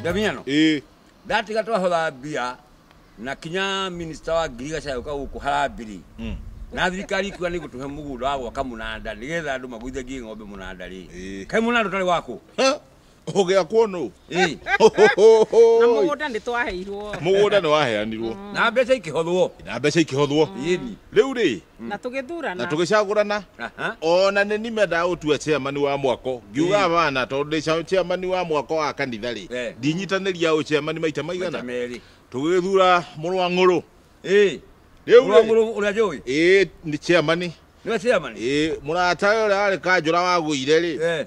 ndamenya no ĩĩ ndatiga twahotha mbia na kinya minista wa ngirigaca yũka gũkũ harambiri Mm. na thirikari ikuga nĩ gũtũhe mũgũnda wa gwaka mũnanda nĩgetha andũ magũithagie ng'ombe mũnanda rĩ Ĩĩ. kaĩ mũnanda ũtarĩ wakũ Ha? ũgĩakwo nũ Ĩĩ. na mũgũnda nĩ twaheirwo mũgũnda nĩ waheanirwo na mbeca ikĩhothwo na mbeca ikĩhothwo yeni rĩu rĩ na tũgĩthurana na tũgĩcagũrana Aha. ona nĩ nimendaga gũtua chairman wa mwako ngiuga bana tondũ ndĩ cha- chairman wa mwako wa kanitha rĩ Eh. ndinyitanĩria ũ chairman maita Maita maigana merĩ. tũgĩthura mũrũ wa ng'ũrũ Ĩĩ. Rĩu Mũrũ wa rĩ- ng'ũrũ ũrĩa njũĩ. ĩĩ nĩ chairman Nĩwe chairman? ĩĩ mũrata ũrĩa warĩ kanjũra wagũire rĩ Eh.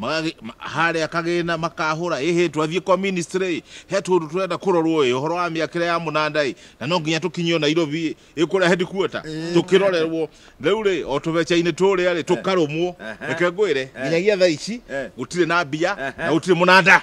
Magagĩ- ma- harĩa kagĩna makahũra ĩhĩ twathiĩ kwa ministry he tũndũ tũrenda kũrorwo ĩ ũhoro wa mĩakĩre ya mũnanda ĩ na no nginya tũkinyio nairobi ĩ ĩ kũrĩa headquarter tũkĩrorerwo rĩu rĩ o tũbeca-inĩ tũrĩa rĩ tũkarũmwo reke ngwĩre nginyagia thaa ici gũtirĩ na mbia na gũtirĩ mũnanda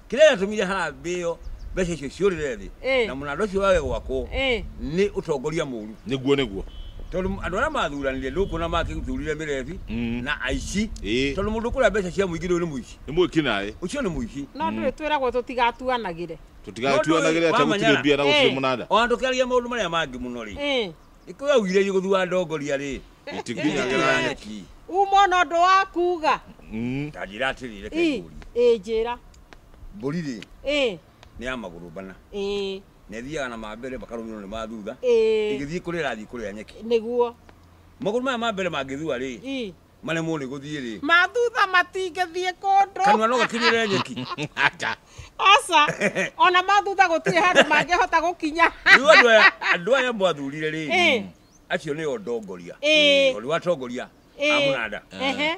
kĩrĩa gĩatũmire harambĩ ĩyo mbeca icio ciũrĩre thĩ Eh. na mũnanda ũcio wage gwakwo Eh. nĩ ũtongoria mũru nĩguo nĩguo tondũ andũ arĩa mathuranire nĩũkuona makĩthurire mĩrebi Mm. na aici Ĩĩ. tondũ mũndũ kũrĩa mbeca cia mũingĩ rĩu nĩ mũici nĩ mwĩki naĩ ũcio nĩ mũici no ndũĩ twĩragwo tũtigatuanagĩre tũtigatuanagĩre Mũndũ ũyũ atagũtirĩ wamanyara. mbia na gũtirĩ Eh. mũnanda ona tũkĩaria maũndũ marĩa mangĩ mũno rĩ Eh. Nĩkũrĩ augire igũthua ndongoria rĩ itikinyagĩra nyeki. Umo na ũndũ wa kuga. Mm. Ta njĩra atĩrĩ reke Ĩ, ngũrie. ĩ njĩra. Mbũri rĩ Ĩ, nĩ ya magũrũ bana ĩ, na ĩthiaga na ma mbere makarũmĩrĩrwo nĩ ma thutha ĩ. ĩgĩthiĩ kũrĩa ĩrathiĩ kũrĩa nyeki. Nĩguo. Magũrũ maya ma mbere mangĩthua rĩ Ĩ, Maremwo nĩ gũthiĩ rĩ. Ma thutha matingĩthiĩ kũndũ. Kanua no gakinyĩre nyeki. Aca. Aca. Ona ma thutha gũtirĩ handũ mangĩhota gũkinya. Rĩu andũ aya andũ aya mwathurire rĩ. Eh. Acio nĩo ndongoria. Eh. Ũrĩ watongoria. Eh. Amũnanda. Eh.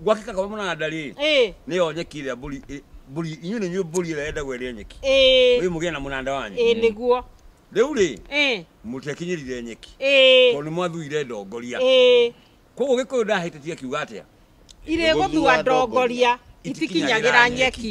Gwakĩka kwa mũnanda rĩ. Eh. Nĩyo nyeki ĩrĩa mbũri mbũri inyuĩ nĩ inyuĩ mbũri ĩrĩa yendagwo ĩrĩa nyeki. Eh. Rĩu mũgĩe na mũnanda wanyu. Eh, nĩguo. Rĩu rĩ, Eh, mũtiakinyĩrire nyeki eh, tondũ nĩmwathuire ndongoria. eh. Koguo Gĩkũyũ ndahĩtĩtie akiuga atĩa? irĩ gũthua ndongoria itikinyagĩra nyeki